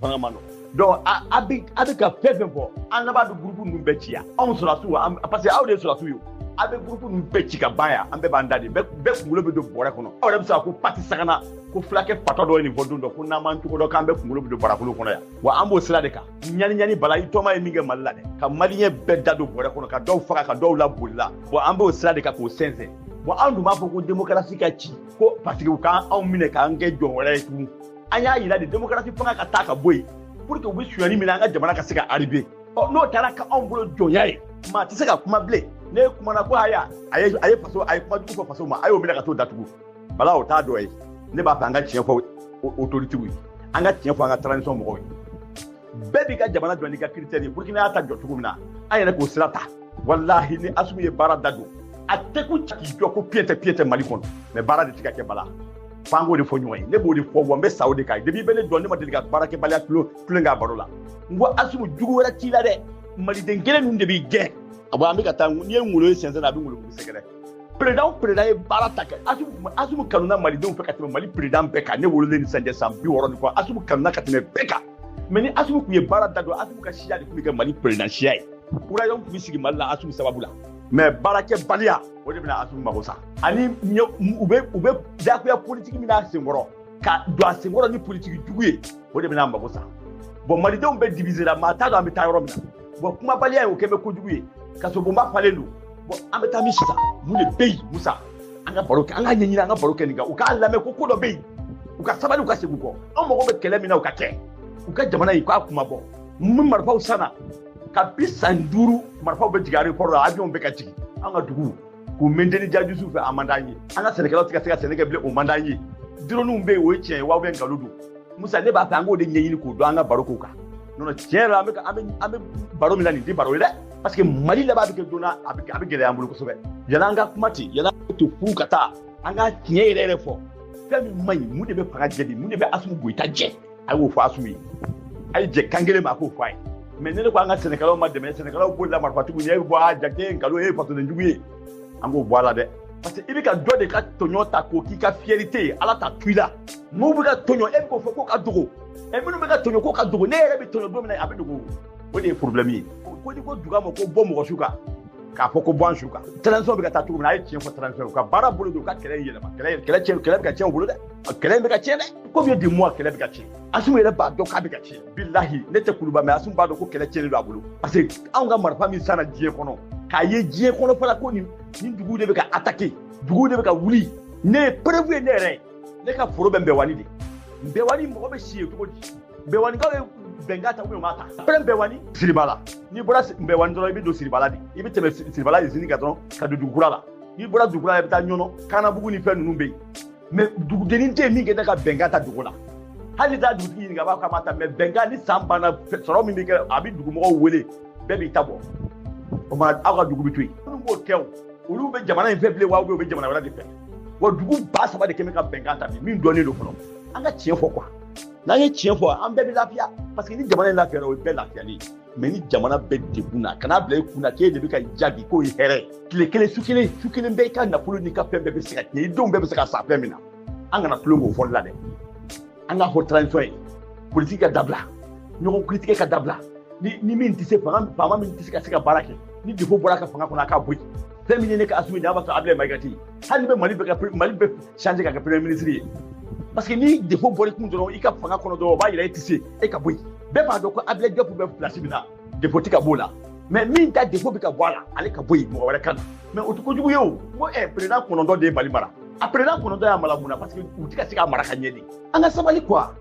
fanga man nɔgɔ donc a bɛ a bɛ ka fɛn fɛn fɔ an laban bɛ gurupu ninnu bɛɛ ci yan anw sɔrɔdasiw an parce que aw de ye sɔrɔdasiw ye a bɛ gurupu ninnu bɛɛ ci ka ban yan an bɛɛ b'an da de bɛɛ kunkolo bɛ don bɔrɛ kɔnɔ aw yɛrɛ bɛ se ka ko pati sakana ko fulakɛ fatɔ dɔ ye nin fɔ don dɔ ko n'an m'an cogo dɔn k'an bɛɛ kunkolo bɛ don barakolo kɔnɔ yan wa an b'o sira de kan ɲani ɲani bala i tɔma ye min kɛ mali la dɛ ka maliyɛn bɛɛ da don bɔrɛ kɔnɔ ka dɔw faga ka dɔw laboli la bon an b'o sira de kan k'o sɛnsɛn bon anw dun b'a fɔ ko demokarasi ka ci ko parce que u k'an anw minɛ k'an kɛ jɔn wɛrɛ ye tugun an y'a yira de demokarasi fanga ka taa ka bɔ yen pour que u bɛ sonyani min na an ka jamana ka se ka aribe ɔ n'o taara ka anw bolo jɔnya ye maa tɛ se ka kuma bilen ne kumana ko haya a ye a ye faso a ye kuma jugu fɔ faso ma a y'o minɛ ka t'o datugu bala o t'a dɔ ye ne b'a fɛ an ka tiɲɛ fɔ otoritew ye an ka tiɲɛ fɔ an ka transition mɔgɔw ye bɛɛ b'i ka jamana jɔ n'i ka kiritɛri ye burukina y'a ta jɔ cogo min na an yɛrɛ k'o sira ta walahi ni asimi ye baara da don a tɛ ko k'i jɔ ko piyɛn tɛ piyɛn tɛ mali kɔnɔ mɛ baara de tɛ ka kɛ bala f'an k'o de fɔ ɲɔgɔn ye ne b'o de fɔ wa n bɛ sa o de kan depuis bɛ ne dɔn ne ma deli ka baarakɛbaliya tulo tulen k'a baro la n ko asimi jugu wɛrɛ t'i la dɛ maliden kelen ninnu de b'i gɛn a bɔ an bɛ ka taa n'i ye ngolo ye sɛnsɛn na a bɛ ngolo kuru sɛgɛrɛ peresidan o peresidan ye baara ta kɛ asimi asimi kanuna malidenw fɛ ka tɛmɛ mali peresidan bɛɛ kan ne wololen ni sisan cɛ san bi wɔɔrɔ ni kɔ asimi kanuna ka tɛmɛ bɛɛ kan mɛ ni asimi tun ye baara da don asimi ka siya de tun bɛ kɛ mali peresidan siya ye ko royaume tun bɛ sigi mali la asimi sababu la mɛ baarakɛbaliya o de bɛna asu mago sa ani u bɛ u bɛ jagoya politiki min n'a senkɔrɔ ka don a senkɔrɔ ni politiki jugu ye o de bɛna a mago sa bɔn malidenw bɛɛ divisera maa t'a dɔn an bɛ taa yɔrɔ min na bɔn kumabaliya ye o kɛ bɛ kojugu ye kasobonba falen don bɔn an bɛ taa min sisan mun de bɛ yen musa an ka baro kɛ an ka ɲɛɲini an ka baro kɛ nin kan u k'a lamɛn ko ko dɔ bɛ yen u ka sabali u ka segin u kɔ an mago bɛ kɛlɛ min na u ka kɛ u ka jamana in k'a kuma bɔ mun marifaw sanna kabi san duuru marifaw bɛ jigin aéroport la avion bɛ ka jigin an ka dugu k'u maintenir jajusu fɛ a man d'an ye an ka sɛnɛkɛlaw tɛ ka se ka sɛnɛ kɛ bilen o man d'an ye droniw bɛ yen o ye tiɲɛ ye wa bɛɛ nkalon don musa ne b'a fɛ an k'o de ɲɛɲini k'o dɔn an ka baro k'o kan non non tiɲɛ yɛrɛ an bɛ an bɛ an bɛ baro min na nin tɛ baro ye dɛ parce que mali laban bɛ kɛ don na a bɛ a bɛ gɛlɛya an bolo kosɛbɛ yala an ka kuma ten yala an ka to furu ka taa an ka tiɲɛ yɛrɛ yɛrɛ fɔ fɛn min man ɲi mun de bɛ fanga jɛ bi mun de bɛ asimi goyita jɛ a y'o fɔ asu ye a ye jɛ kan kelen ma a k'o fɔ a ye mɛ ne ne ko an ka sɛnɛkɛlaw ma dɛmɛ sɛnɛkɛlaw b'o la marifatigiw ye e bɔ a jate ye nkalon e ye fasodenjugu ye an k'o bɔ a la dɛ parce que i bɛ ka dɔ de ka tɔɲɔ ta k'o k'i ka fiyɛrite ye ala t'a to i la n'u bɛ ka tɔɲɔ e bɛ k'o fɔ ko k'a dogo ɛ minnu bɛ ka tɔɲɔ ko k'a dogo ne yɛrɛ bɛ tɔɲɔ don min na a bɛ dogo o de ye problème ye ko n'i ko duga ma ko bɔ mɔgɔ su kan k'a fɔ ko bɔ an su kan transition bɛ ka taa cogo min na a ye tiɲɛ fɔ transition ka baara bolo don ka kɛlɛ yɛlɛma kɛlɛ kɛlɛ bɛ ka tiɲɛ u bolo dɛ A kɛlɛ in bɛ ka tiɲɛ dɛ komi ye dimu a kɛlɛ bɛ ka tiɲɛ asimu yɛrɛ b'a dɔn k'a bɛ ka tiɲɛ bilahi ne tɛ kuluba mɛ asimu b'a dɔn ko kɛlɛ tiɲɛni don a bolo parce que anw ka marifa min sanna diɲɛ kɔnɔ k'a ye diɲɛ kɔnɔ fana ko nin nin dugu de bɛ ka atake dugu de bɛ ka wuli ne ye perewu ye ne yɛrɛ ye ne ka foro bɛ nbɛwani de nbɛwani mɔgɔ bɛ si yen cogo di nbɛwanikaw ye bɛnkan ta ubiyɛn u m'a ta pɛrɛn nbɛwani siribala n'i bɔra nbɛwani dɔrɔn i bɛ don siribala de i bɛ tɛmɛ siribala izini kan dɔrɔn ka don dugukura la n'i bɔra dugukura la i bɛ taa ɲɔnɔ kanabugu ni fɛn ninnu bɛ yen mɛ dugudennin tɛ yen min tɛ ka bɛnkan ta dugu la hali n'i taa dugutigi ɲininka a b'a fɔ k'a ma ta mɛ bɛnkan ni san banna sɔrɔ min bɛ kɛ a bɛ dugumɔgɔw wele bɛɛ b'i ta bɔ o ma aw ka dugu bɛ to yen minnu b'o kɛ o olu bɛ jamana in fɛ bilen wa u bɛ jamana wɛrɛ de fɛ wa dugu ba saba de kɛ bɛ ka bɛnkan ta bi min dɔnnen don fɔlɔ an ka tiɲɛ fɔ kuwa n'an ye tiɲɛ fɔ an bɛɛ bɛ lafiya parce que ni jamana in lafiyara o ye bɛɛ lafiyalen ye mɛ ni jamana bɛɛ degunna kana bila i kun na k'e de bɛ ka jaabi k'o ye hɛrɛ tile kelen su kelen su kelen bɛɛ i ka nafolo n'i ka fɛn bɛɛ bɛ se ka tiɲɛ i denw bɛɛ bɛ se ka sa fɛn min na an kana tulon k'o fɔli la dɛ an ka fɔ transition ye politiki ka dabila ɲɔgɔn kiritigɛ ka dabila ni ni min tɛ se fanga faama min tɛ se ka se ka baara kɛ ni defo bɔra ka fanga kɔnɔ a k'a bɔ yen fɛn min ye ne ka asimi n'a b'a sɔrɔ abilɛ mayiga tɛ hali ni bɛ mali bɛ ka mali bɛ change ka kɛ premier ministre ye parce que ni defo bɔra i kun dɔrɔn i ka fanga kɔnɔ dɔrɔn o b'a yira e tɛ se e ka bɔ yen bɛɛ b'a dɔn ko abilɛ jɔpu bɛ pilasi min na defo tɛ ka b'o la mɛ min ta defo bɛ ka bɔ a la ale ka bɔ yen mɔgɔ wɛrɛ ka na mɛ o tɛ kojugu ye o ko ɛ perezidan kɔnɔntɔn de ye mali mara a perezidan kɔnɔntɔn y'a mara mun na parce que u tɛ ka se ka mara ka ɲɛ de an ka sabali kuwa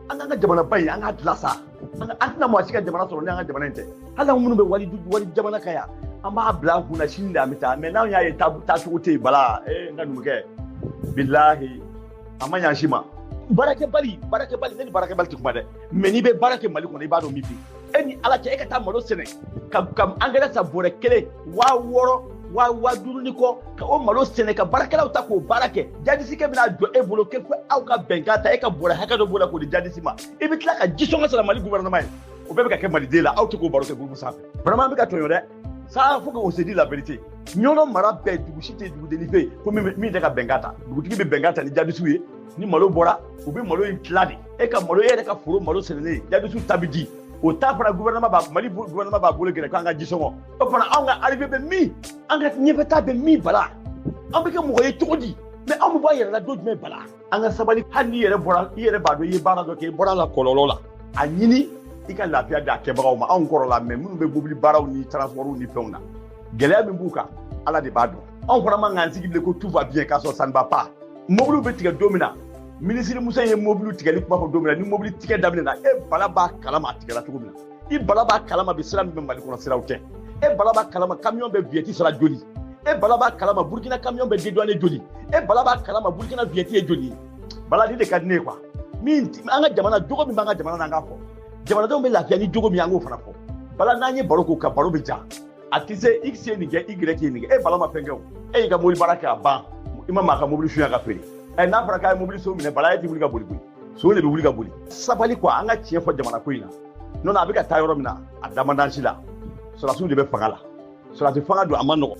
an k'an ka jamanaba in an k'a dilan sa an tɛna mɔgɔ si ka jamana sɔrɔ ni an ka jamana in tɛ hali an minnu bɛ wali wali jamana kan yan an b'a bila an kunna sini de an bɛ taa mɛ n'an y'a ye taacogo tɛ yen bala ee n ka numukɛ bilahi a ma ɲa si ma baarakɛbali baarakɛbali ne ni baarakɛbali tɛ kuma dɛ mɛ n'i bɛ baara kɛ mali kɔnɔ i b'a dɔn min bɛ e ni ala cɛ e ka taa malo sɛnɛ ka ka angɛrɛ san bɔrɛ kelen waa wɔɔrɔ waa waa duuru ni kɔ ka o malo sɛnɛ ka baarakɛlaw ta k'o baara kɛ jadisikɛ bɛna jɔ e bolo k'e ko aw ka bɛnkan ta e ka bɔrɛ hakɛ dɔ b'o la k'o di jadisi ma i bɛ tila ka jisɔngɔ sara mali gouvernement ye o bɛɛ bɛ ka kɛ maliden la aw tɛ k'o baro kɛ groupe sanfɛ vraiment an bɛ ka tɔɲɔ dɛ ça faut qu'on se dit la vérité ɲɔnɔ mara bɛɛ dugu si tɛ dugudennin fɛ yen ko min tɛ ka bɛnkan ta dugutigi bɛ bɛnkan ta ni jadisiw ye ni malo bɔra u bɛ malo in tila de e ka malo e yɛrɛ ka foro malo sɛnɛlen jadisiw ta bɛ di o taa fana gouvernement b'a mali gouvernement b'a bolo gɛrɛ k'an ka ji sɔngɔ o fana anw ka arrivé bɛ min an ka ɲɛfɛta bɛ min bala an bɛ kɛ mɔgɔ ye cogo di mɛ anw bɛ bɔ a yɛrɛ la don jumɛn bala an ka sabali hali n'i yɛrɛ bɔra i yɛrɛ b'a dɔn i ye baara dɔ kɛ i bɔra la kɔlɔlɔ la a ɲini i ka lafiya d'a kɛbagaw ma anw kɔrɔla mɛ minnu bɛ mobili baaraw ni transportw ni fɛnw na gɛlɛya min b'u kan ala de b'a dɔn anw fana man k'an sigi bilen ko tout va bien k'a sɔrɔ ça ne va pas mobiliw bɛ tigɛ don min na minisiri muso ye mobiliw tigɛli kuma fɔ don min na ni mobili tigɛ daminɛna e bala b'a kalama a tigɛla cogo min na i bala b'a kalama bi sira min bɛ mali kɔnɔ siraw tɛ e bala b'a kalama kamiyɔn bɛ viɲɛti sara joli e bala b'a kalama burukina kamiyɔn bɛ deduwane joli e bala b'a kalama burukina viɲɛti ye joli ye bala nin de ka di ne ye kuwa min an ka jamana jogo min b'an ka jamana na an k'a fɔ jamanadenw bɛ lafiya ni jogo min an k'o fana fɔ bala n'an ye baro k'o kan baro bɛ ja a tɛ se x ye nin kɛ y ye nin kɛ e bala ma fɛn kɛ o e y'i ka mobili baara kɛ a ban i ma maa ka mobili suɲɛ ka feere ɛ n'a fɔra k'a ye mobili son minɛ bala e tɛ wuli ka boli koyi son de bɛ wuli ka boli sabali kuwa an ka tiɲɛ fɔ jamana ko in na nɔntɛ a bɛ ka taa yɔrɔ min na a damandansi la sɔrɔdasiw de bɛ fanga la sɔrɔdasi fanga don a man nɔgɔn